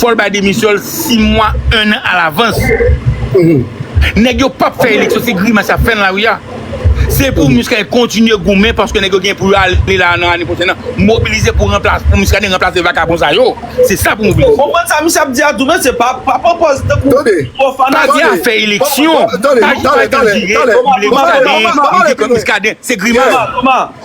Fòl bay demisyonl 6 mwa 1 an alavans nèg yo pap fè eleksyon se grimas yap fè nan lari a se pou Muscadin kontinye goumen paske nèg yo gen pou yo ale la nan ane pwochèn nan mobilize pou Muscadin ranplase vakabon sa yo se sa pou mobilize. Konprann sa misye ap di a tou men se pa pran pòz tankou trò fanatik. Padi a fè eleksyon padi pa janm dire Muscadin li di ke Muscadin se grimas.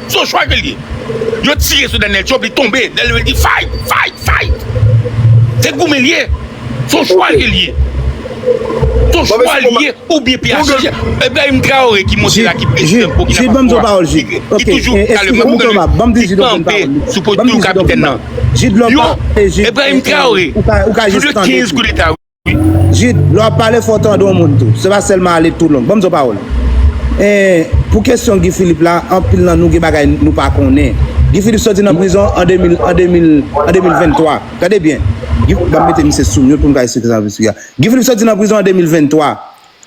Son chwa ke l ye. Yo tire sou Daniel Trump, li tonbe. Daniel Trump di fight, fight, fight. Se goumen l ye. Son chwa ke l ye. Son chwa l ye ou byen PHTK. Ebrahim Traore ki monte la ki prezidan Burkina Faso a, ki toujou kale mwen pou ke li kanpe sou poto kapitèn nan. Yo, Ebrahim Traore, jounè 15 koudeta. Jude, lè wap pale fò w tande yon moun tou. Se pa sèlman ale tou long. Ban m di w yon pawòl. Ee, pou kesyon Guy Philippe la, anpil nan nou gen bagay nou pa konnen. Guy Philippe sòti nan prizon an 2023. Gade byen. Ban m mete misye sou mute pou m ka esplike sa m vle esplike a. Guy Philippe sòti nan prizon an 2023.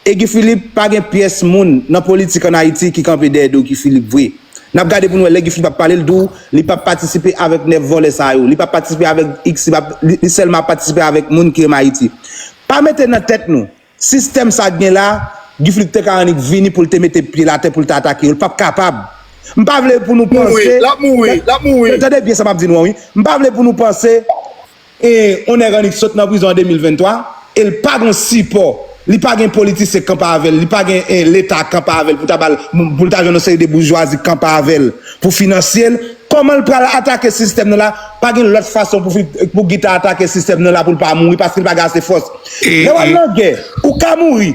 E Guy Philippe pa gen pyès moun nan politik an Ayiti ki kanpe dèyè do Guy Philippe vre. Nap gade pou nou wè lè Guy Philippe ap pale l di w li pap patisipe avèk 9 vòlè sa yo, li pap patisipe avèk x li pap li sèlman ap patisipe avèk moun ki renmen Ayiti. Pa mete nan tèt nou sistèm sa k gen la Guy Philippe te ka annik vini pou l te mete pye l atè pou l te atake yo l pap kapab. M pa vle pou nou panse, tande byen sa map di nou an wi, m pa vle pou nou panse. E on nèg annik sot nan prizon an 2023 e l pa gon sipò, li pa gen politisyen k kanpe avè l, li pa gen leta k kanpe avè l pou ta ba l, pou l ta jwenn on seri de boujwazi k kanpe avè l pou finansye l, kòman l pral atake sistèm nan la? Pa gen lòt fason pou pou Guy ta atake sistèm nan la pou l pa mouri paske l pa gen ase fòs. Lè w al nan gè, ou ka mouri,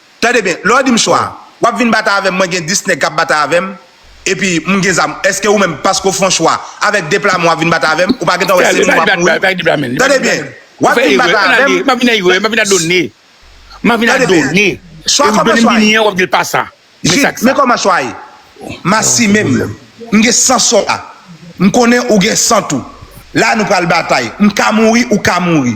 Tande byen, lè w di m chwa, w ap vin batay avè m, mwen gen 10 nèg k ap batay avè m, epi m gen zam, èske ou menm paske w fè yon chwa, avèk 2 pla men w ap vin batay avè m, ou pa gen tan wè se mwen m ap mouri? Tande byen, w ap vin batay avè m. Tande byen, chwa kòman chwa ye? Jid, men kòman chwa ye? Masi men m, m gen 100 sòlda, m konnen ou gen 100 tou, la nou pral batay, m ka mouri, ou ka mouri.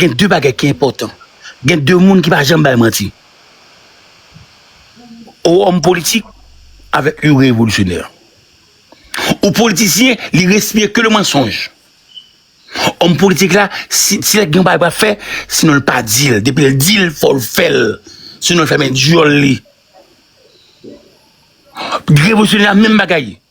Gen de bagay ki enpòtan, gen de moun ki pa janm bay manti, ou òm politik avèk you revolisyonè. Ou politisyen li respire ke le mansonj. Òm politik la si si lè gen yon bagay pou ap fè, sinon l pa di l, depi l di l fò l fè l, sinon l fèmen dyòl li. Revolisyonè a menm bagay.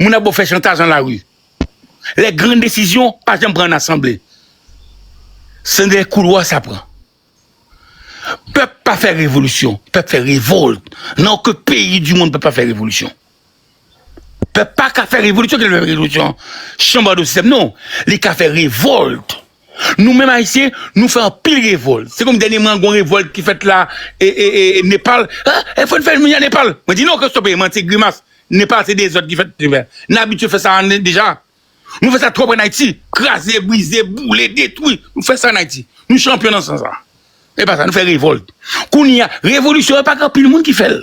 Moun ap ba w fè chantaj nan lari. Lè gran desizyon pa janm pran nan asanble. Se nan dèyè koulwa sa pran. Pèp pa fè revolisyon. Pèp fè revolt. Nan oken peyi di monn pèp pa fè revolisyon. Pèp pa ka fè revolisyon. Kèlè fè revolisyon? Chanbado sistèm non. Li ka fè revolt. Nou menm ayisyen nou fè anpil revòl se konm dènye man gon revòl ki fèt la e e e nepal ha e fòn fèl minya nepal mwen di non kòstopè e manti e grimas nepal se dezòd ki fèt trivè n abitye fè sa ane deja nou fè sa twòp an ayiti kraze brize boule detwi nou fè sa an ayiti nou chanpyon nan sans sa e pa sa nou fè revòl kounye a revolisyon e pa k anpil moun ki fèl.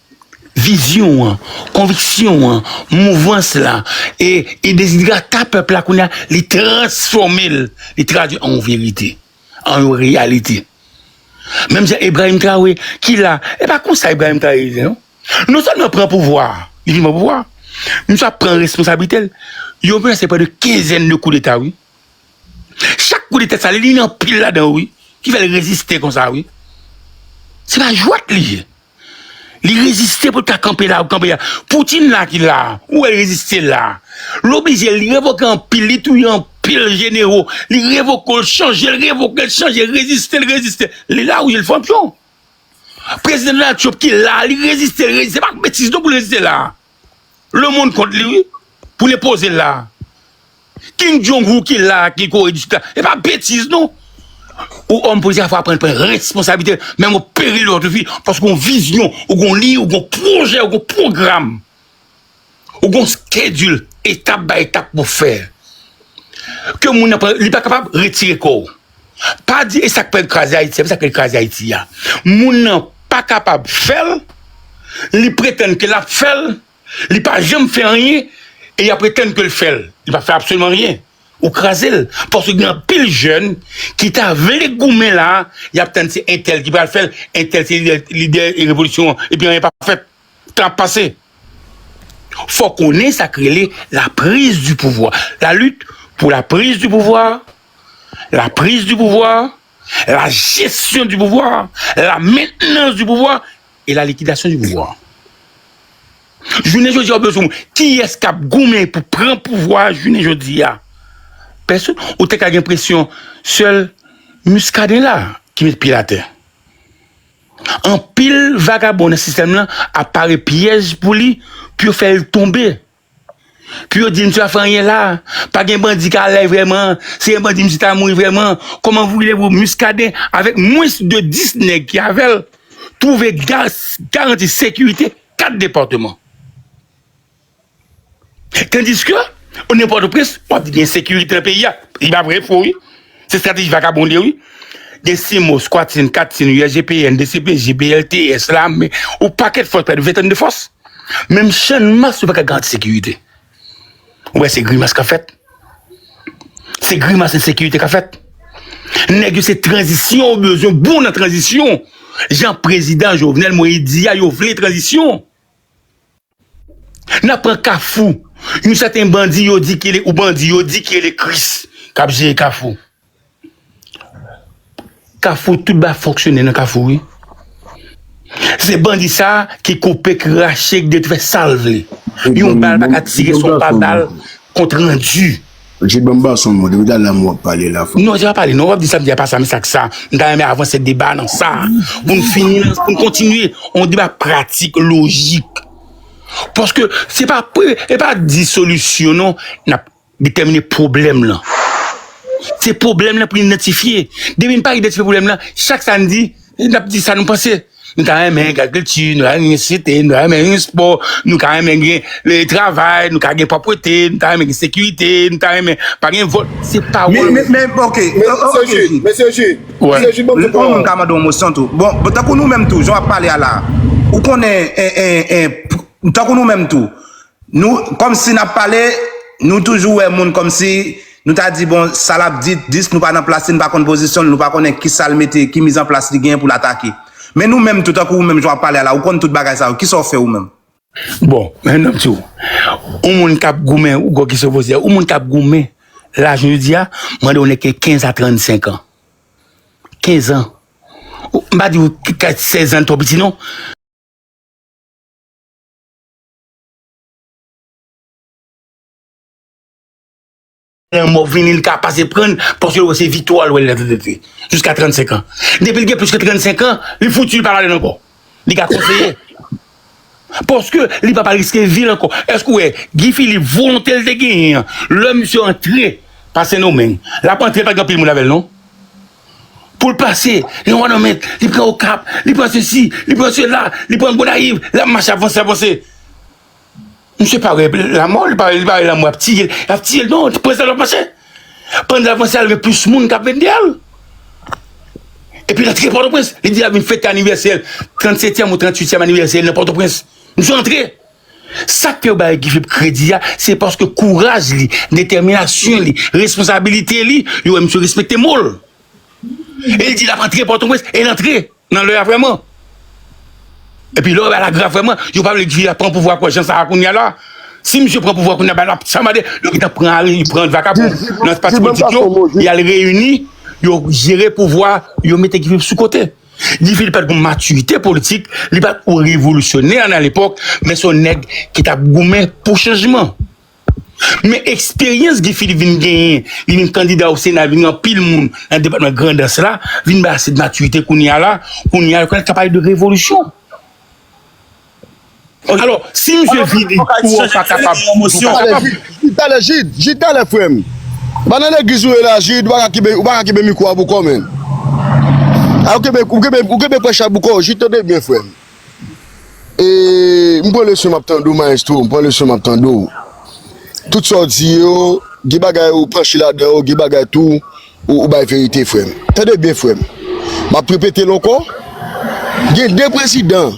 Vizyon an, konviksyon an, mouvans la, e dezidrata pèp la kounye a, li transfòme l, li tradui an yon verite, an yon reyalite. Menm jan Ebrayim Traore ki la, e pa konsa Ebrayim Traore ye non. Non sèlman l pran pouvwa a, li vin pran pouvwa a, misye ap pran responsablite l, yo menase pran de kenzèn de koudeta wi. Chak koudeta sa li li nan pil ladan yo wi, ki fè l reziste konsa wi. Se pa jwèt li ye. Li reziste pou l ka kanpe la, kanpe la. Poutine la ki la, ou wè l reziste la. L oblije, li revoke anpil, li touye anpil jenero. Li revoke, l chanje, l revoke, l chanje, l reziste, l reziste. Li la wi, l fanp yo. Prezidan Donald Trump ki la, li reziste, l reziste. Se pa betiz non pou l reziste la. Le monde kont li wi pou le poze la Kim jong un ki la ki kore di sud e pa betiz non ou homme politik fwa pran pran responsabilite menm ou peri lot fi paske ou vizyon ou gon li ou gon projè ou gon program ou gon skedil etap bay etap pou fè ke moun nan li pa kapab retire kòw. Pa di e sak fèl kraze ayiti a men sak fèl kraze ayiti a moun nan pa kapab fèl li pretann ke lap fèl li pa janm fè anyen e yap pretann kel fèl li pa fè absoliman anyen ou krazel paske gen anpil jèn ki ta vle goumen la yap tann se entèl ki pral fèl entèl se lidè lidè revolisyon an epi anyen pap fèt. Sa ap pase. Fò konnen sa k rele la prise du pouvoir. La lutte pour la prise du pouvoir, la prise du pouvoir, la gestion du pouvoir, la maintenance du pouvoir et la liquidation du pouvoir. Jounen jodi a ou bezwen kiyès k ap goumen pou pran pouvwa a jounen jodi a? Pèsonn. Ou te ka gen presyon sèl Muscadin la ki met pye l atè. Anpil vagabon nan sistèm lan ap pare pyèj pou li pou yo fè l tonbe. Pou yo di misye pa fè anyen la, pa gen bandi ka lay vrèman, si gen bandi misye ta mouri vrèman. Kòman voulevou Muscadin avèk mwens de 10 nèg ki avè l twouve garanti sekirite 4 depatman? Tandiske, o nivo Pòtoprens, w ap di gen ensekirite nan peyi a. E pa vre, fo wi. Se estrateji vakabon li yo wi. Gen CIMOS, Quatim, Katim, USGPN, dcpj, BLTS, lame, yon pakèt fòs, prè de ventann de fòs. Menm Channmas yo pa ka garanti sekirite. Ou wè se grimas k ap fèt. Se grimas ensekirite k ap fèt. Nèg yo se tranzisyon yo bezwen, yo bon nan tranzisyon. Jan prezidan Jovenel Moïse di a, yo vle tranzisyon. Nan pran kafou yon sèten bandi yo di ki ou bandi yo di ki rele kris kap jere kafou kafou tout ba fonksyone nan kafou wi se bandi sa ki koupe ki rache ki detwe sal vle yon bal paka tire son pa bal kont randi. Richard banm bason mwen depi talè a mwen wap pale la fwa. Non se pa pale non wap di samdi a pa sa men sak sa m ta renmen avanse deba nan sa poun fini nan poun kontinye yon deba pratik lojik paske se pa pre e pa di solisyon non nap detèmine pwoblèm lan se pwoblèm lan poun idantifye depi n pa idantifye pwoblèm lan chak sa n di Nou ap di sa nou panse, nou ta renmen gen agrikilti, nou ta renmen gen sosyete, nou ta renmen gen espò, nou ta renmen gen le travay, nou ta gen pwopwete, nou ta renmen gen sekirite, nou ta renmen pa gen vòl, se pawòl. Men, men, ok, Mesye Ji, Mesye Ji, Mesye Ji banm tou pawòl. Bon, m ta mande yon mosyon tou. Bon, tankou nou menm tou, jan w ap pale a la, ou konnen, en, en, en, tankou nou menm tou, Nou kòmsi nap pale nou toujou wè moun kòmsi nou ta di bon sa lap di dis nou pa nan plas li nou pa konn pozisyon l nou pa konnen kisa l mete ki miz an plas li genyen pou l atake men nou menm tou tankou ou menm jan wap pale a la ou konn tout bagay sa yo kisa w fè ou menm. Bon men nap di w yon moun kap goumen ou gwo kesyon w poze a yon moun kap goumen la jounen jodi a mande yon nèg ki gen 15 a 35 an 15 an m pa di w 16 an twò piti non. Lanmò vini li ka pase prann paske li wè se viktwa l wè lè tèt li jiska 35 an. Depi li gen plis ke 35 an, li fouti li pa pale ankò. Li ka konseye. Paske li pa pral riske vi l ankò. Èske ou wè Guy Philippe volonte li te genyen an lè misye antre pa Sendomeng, l ap antre pa gen anpil moun avè l non. Pou l pase, li an Wanament, li pran Okap, li pran sesi, li pran sela, li pran Gonayiv, l ap mache ap vanse, ap vanse. Misye pa wè lanmò, li pa wè lanmò ap tiye l, ap tiye l, non, prezan l ap mache. Pandan l ap vanse a, li wè plis moun k ap vin dèyè l. Epi l antre Pòtoprens, li di l ap vin fete anivèsè l, 37 tyèm ou 38 tyèm anivèsè l nan Pòtoprens. Misye antre. Sak fè yo bay Guy Philippe kredi a, se paske kouraj li, detèminasyon li, responsabilite li, yo wè misye respekte mo l. E l di l ap antre Pòtoprens, e l antre nan lè a vrèman. Epi lè w wè bagay la grav vrèman, yo pa vle Guy Philippe ap pran pouvwa kò jan sa a kounya la. Si misye pran pouvwa kounya bagay la ap chanbade, yo gentan pran Ariel, pran vakabon nan pati politik yo, y al reyini, yo jere pouvwa, yo mete Guy Philippe sou kote. Guy Philippe pat gon maturite politik, li pat on revolisyonè a lepòk, men son nèg ki tap goumen pou chanjman. Men eksperyans Guy Philippe vin genyen, li vin kandida o sena vin anpil moun nan depatman grandans la, vin bay ase maturite kounya la, kounya yo ka pale de revolisyon. Alò, si misye vini pou ou ka kapab, nou ka kapab. Jid talè, Jid, Jid talè frè m. Pa nan legliz ou ye la Jid, ou paka kenbe, ou paka kenbe mikwo a pou kò w menn. A ou kenbe, ou kenbe, ou kenbe prèch la pou kò w, Jid tande byen frè m. E, m pran leson m ap tande w mayestwo, m pran leson m ap tande w. Tout sa w di yo, gen bagay ou panche ladan yo, gen bagay tou ou bay verite frè m. Tande byen frè m. M ap repete l ankò, gen 2 prezidan.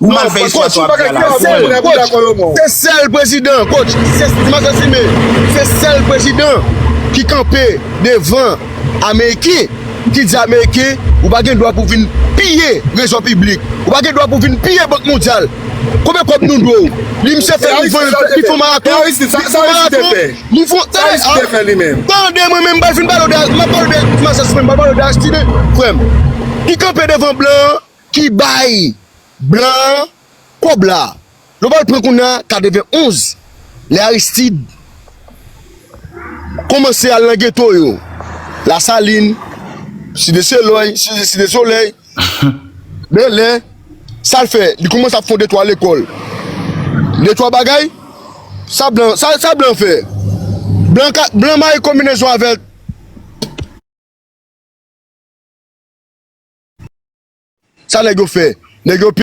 Ou mal fè istwa sa wap di a la ou menm. Coach se sèl prezidan coach se ma zantime se sèl prezidan ki kanpe devan ameriken ki di ameriken ou pa gen dwa pou vin piye rezò piblik ou pa gen dwa pou vin piye bank mondyal konbyen kòb nou dwe w li misye fè li vann li fon maraton li fon maraton li fon tande tande mwen menm m pral fin pale w de map pale w de ti masisi menm m pral pale w de aristide frè m ki kanpe devan blan an. ki bay blan an kòb la nou pral pran kounya 91 lè Aristide kòmanse al nan geto yo la salin site selòy site solèy bèlè sal fè li kòmanse ap fon de 3 lekòl de 3 bagay sa blan sa blan fè blan ka blan mare konbinezon avèk. Sa nèg yo fè? Nèg yo pi.